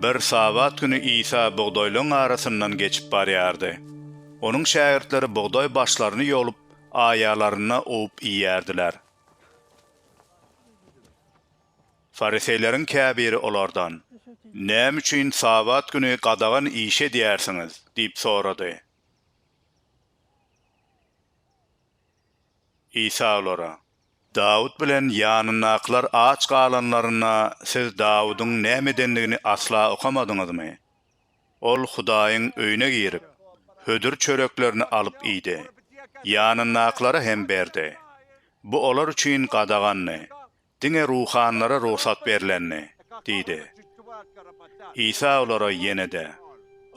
Bir Sabat güni Isa bugdaýlaryň arasyndan geçip barýardy. Onuň şägirtleri bugdaý başlaryny ýolup, aýalaryna owup iýýärdiler. Fariseýleriň käbiri olardan, Näme üçin Sabat güni gadagan iş edýärsiňiz? diýip sorady. Isa olara, Dawut bilen ýanyndakylar aç galanlarynda siz Dawudyň näme edendigini asla okamadyňyzmy? Ol Hudaýyň öýüne girip, hödür çöreklerini alyp iýdi, ýanyndakylara hem berdi. Bu olar üçin gadagandy, Diňe ruhanylara rugsat berlendi, diýdi. Isa olara ýene-de,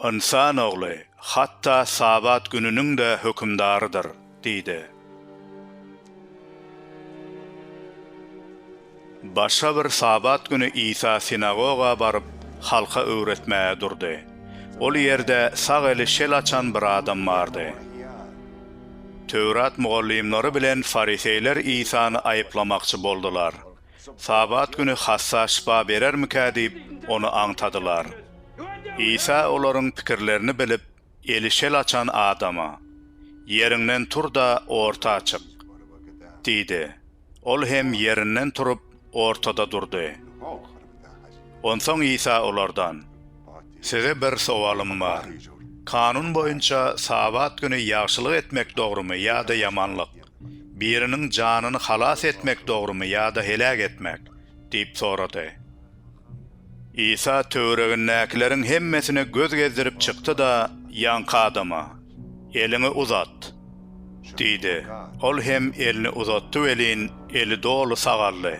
Ynsan Ogly hatda Sabat gününiň-de hökümdarydyr, diýdi. Başga bir Sabat güni Isa sinagoga baryp, halka öwretmäge durdy. Ol ýerde sag eli şel açan bir adam bardy. Töwrat mugallymlary bilen fariseýler Isany aýyplamakçy boldular. Sabat güni hassa şypa berermikä diýip, ony aňtadylar. Isa olaryň pikirlerini bilip, eli şel açan adama, Ýeriňden tur-da, orta çyk! diýdi. Ol hem ýerinden turup, ortada durdy. Onsoň Isa olardan, Size bir sowalym bar. Kanun boýunça Sabat güni ýagşylyk etmek dogrumy ýa-da ýamanlyk, biriniň janyny halas etmek dogrumy ýa-da heläk etmek? diýip sorady. Isa töweregindäkileriň hemmesine göz gezdirip çykdy-da, ýaňky adama, Eliňi uzat! diýdi. Ol hem elini uzatdy welin, eli doly sagaldy.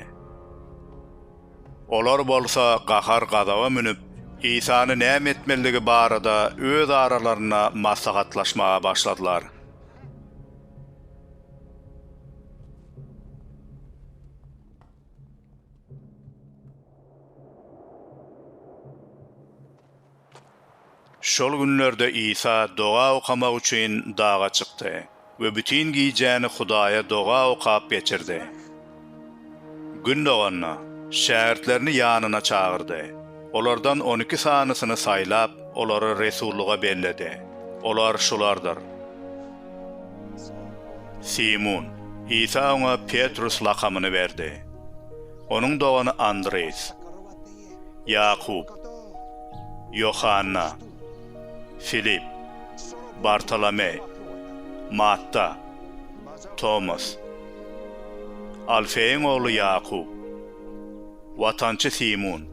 Olar bolsa gahar-gazaba münüp, Isany näme etmelidigi barada öz aralarynda maslahatlaşmaga başladylar. Şol günlerde Isa doga okamak üçin daga çykdy we bütin gijäni Hudaýa doga okap geçirdi. Gün doganda, şägirtlerini ýanyna çagyrdy. Olardan on iki sanysyny saýlap, olary resullyga belledi. Olar şulardyr. Simun. Isa oňa Petrus lakamyny berdi. Onuň dogany Andreýs. Ýakup. Ýohanna. Filip. Bartolomeý. Matta. Tomas. Alfeýiň ogly Ýakup. Watançy Simun,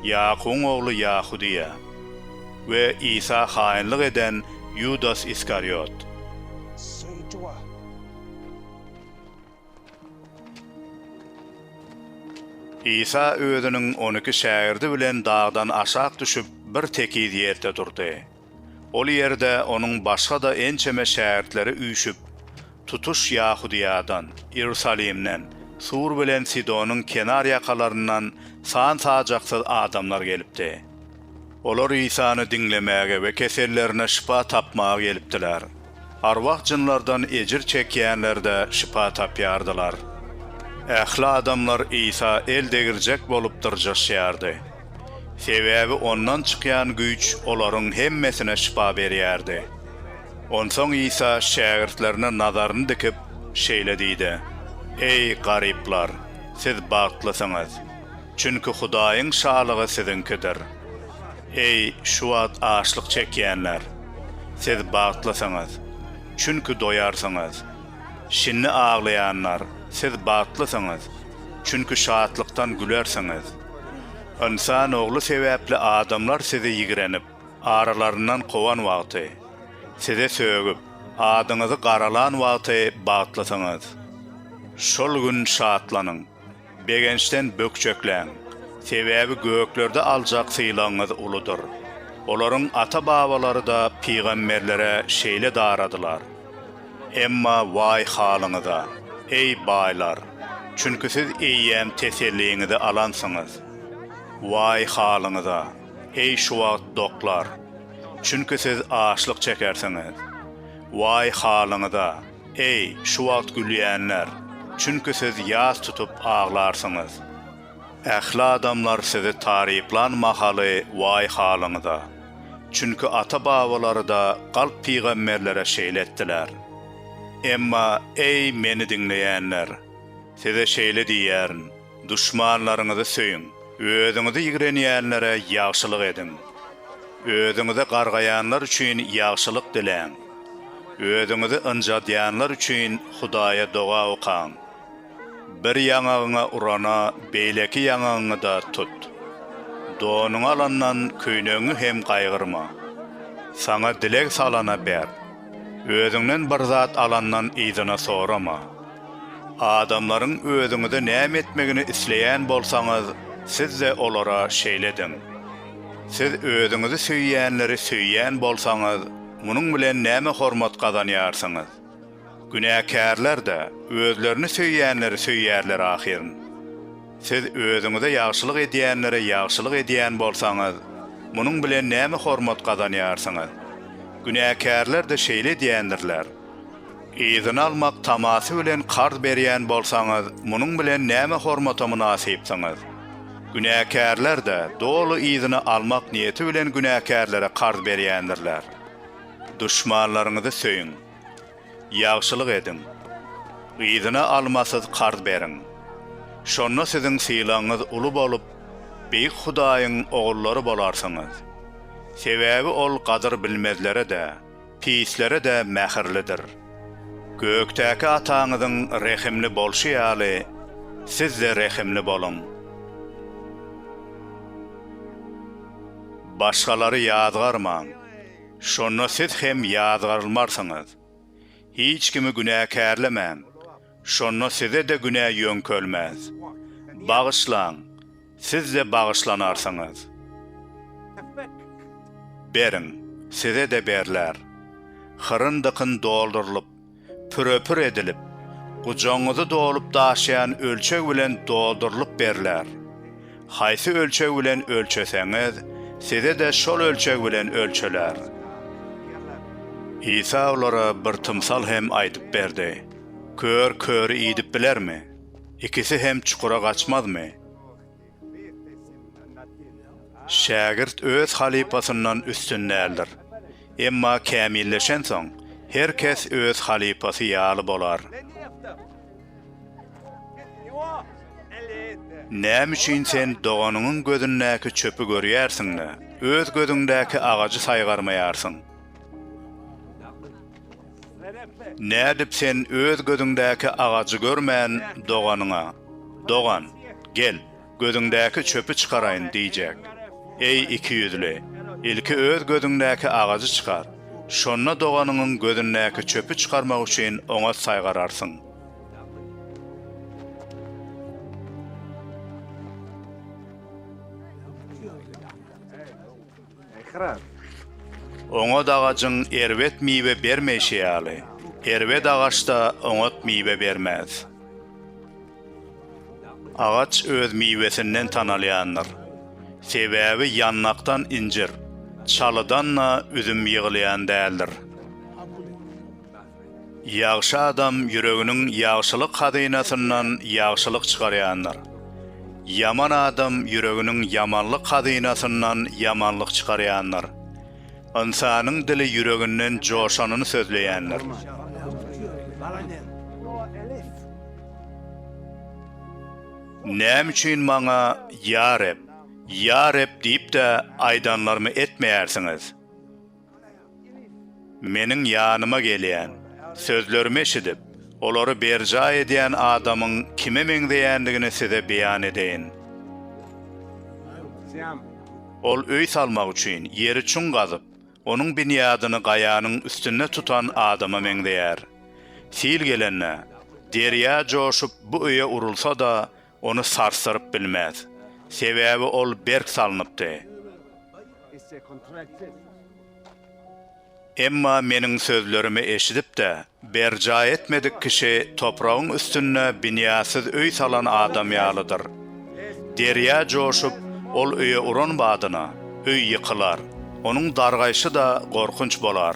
Ýakubyň ogly Ýahudyýa we Isa haýynlyk eden Ýudas Iskariot. Isa özüniň on iki şägirdi bilen dagdan aşak düşüp, bir tekiz ýerde durdy. Ol ýerde onuň başga-da ençeme şägirtleri üýşüp, tutuş Ýahudyýadan, Iýerusalimden, Tur bilen Sidonyň kenar ýakalaryndan san-sajaksyz adamlar gelipdi. Olar Isany diňlemäge we kesellerine şypa tapmaga gelipdiler. Arwah-jynlardan ejir çekýänler-de şypa tapýardylar. Ähli adamlar Isa el degirjek bolup dyrjaşýardy. Sebäbi Ondan çykýan güýç olaryň hemmesine şypa berýärdi. Onsoň Isa şägirtlerine nazaryny dikip, şeýle diýdi, Eý, garyplar, siz bagtlysyňyz. Çünki Hudaýyň Şalygy siziňkidir. Eý, şu wagt açlyk çekýänler! Siz bagtlysyňyz! Çünki doýarsyňyz. Şindi aglaýanlar, siz bagtlysyňyz! Çünki şatlykdan gülersiňiz. Ynsan Ogly sebäpli adamlar sizi ýigrenip, aralaryndan kowan wagty, size sögüp, adyňyzy garalan wagty bagtlysyňyz. Şol gün şatlanyň. Begençden bökjekläň, sebäbi göklerde aljak sylagyňyz uludyr. Olaryň ata-babalary-da pygamberlere şeýle daradylar. Emma waý halyňyza, eý, baýlar! Çünki siz eýýäm teselliňizi alansyňyz. Waý halyňyza, eý, şu wagt doklar! Çünki siz açlyk çekersiňiz. Waý halyňyza! Eý, şu wagt gülýänler! Çünki siz ýas tutup aglarsyňyz. Ähli adamlar sizi taryplan mahaly waý halyňyza! Çünki ata-babalary-da galp pygamberlere şeýle etdiler. Emma, eý, meni diňleýänler! Size şeýle diýýärin, Duşmanlaryňyzy söýüň. Özüňizi ýigrenýänlere ýagşylyk ediň. Özüňize gargaýanlar üçin ýagşylyk diläň. Özüňizi ynjadýanlar üçin Hudaýa doga okaň. Bir ýaňagyňa urana, beýleki ýaňagyňy-da tut. Donuňy alandan köýnegiňi hem gaýgyrma. Saňa dileg salana ber. Özüňden bir zat alandan yzyna sorama. Adamlaryň özüňize näme etmegini isleýän bolsaňyz, siz-de olara şeýle ediň. Siz özüňizi söýýänleri söýýän bolsaňyz, munuň bilen näme hormat gazanýarsyňyz? Günäkärler-de özlerini söýýänleri söýýärler ahyryn. Siz özüňize ýagşylyk edýänlere ýagşylyk edýän bolsaňyz, munuň bilen näme hormat gazanýarsyňyz? Günäkärler-de şeýle edýändirler. Yzyna almak tamasy bilen karz berýän bolsaňyz, munuň bilen näme hormata mynasypsyňyz? Günäkärler-de doly yzyna almak niýeti bilen günäkärlere karz berýändirler. Duşmanlaryňyzy söýüň. Ýagşylyk ediň. Yzyna almasyz karz beriň. Şonda siziň sylagyňyz uly bolup, Beýik Hudaýyň ogullary bolarsyňyz. Sebäbi Ol gadyr bilmezlere-de, pislere-de mähirlidir. Gökdäki Ataňyzyň rehimli bolşy ýaly, siz-de rehimli boluň. Başgalary ýazgarmaň, şonda siz hem ýazgarylmarsyňyz. Hiç kimi günäkärlemäň. Şonda size-de günä ýöňkelmez. Bagyşlaň, siz-de bagyşlanarsyňyz. Beriň, size-de berler. Hyryn-dykyn doldurylyp, püre-pür edilip, gujagyňyzy dolup daşýan ölçeg bilen doldurylyp berler. Haýsy ölçeg bilen ölçeseňiz, size-de şol ölçeg bilen ölçeler. Isa olara bir tymsal hem aýdyp berdi. Kör köri idip bilermi? Ikisi hem çukura gaçmazmy? Şägirt öz halypasyndan üstün däldir. Emma kämilleşensoň, her kes öz halypasy ýaly bolar. Näme üçin sen doganyňyň gözündäki çöpi görýärsiň-de, öz gözüňdäki agajy saýgarmaýarsyň? Nädip sen öz gözüňdäki agajy görmän, doganyňa, Dogan, gel, gözüňdäki çöpi çykaraýyn diýjek? Eý, ikiýüzli, ilki öz gözüňdäki agajy çykar, şonda doganyňyň gözündäki çöpi çykarmak üçin oňat saýgararsyň. Oňat agajyň erbet miwe bermeýşi ýaly, erbet agaç-da oňat miwe bermez. Agaç öz miwesinden tanalýandyr. Sebäbi ýanlakdan injir, çalydan-da üzüm ýygylýan däldir. Ýagşy adam ýüreginiň ýagşylyk hazynasyndan ýagşylyk çykarýandyr. Ýaman adam ýüreginiň ýamanlyk hazynasyndan ýamanlyk çykarýandyr. Ynsanyň dili ýüreginden joşanyny sözleýändir. Näme üçin maňa, Ýa Reb, Ýa Reb diýip-de aýdanlarymy etmeýärsiňiz? Meniň ýanyma gelýän, sözlerimi eşidip, olary berjaý edýän adamyň kime meňzeýändigini size beýan edeýin. Ol öý salmak üçin ýeri çuň gazyp, onuň binýadyny gaýanyň üstünde tutan adama meňzeýär. Sil gelende, derýa joşup, bu öýe urulsa-da, ony sarsdyryp bilmez, sebäbi ol berk salnypdy. Emma Meniň sözlerimi eşidip-de, berjaý etmedik kişi topragyň üstünde binýatsyz öý salan adam ýalydyr. Derýa joşup, ol öýe uran badyna, öý ýykylar, onuň dargaýşy-da gorkunç bolar.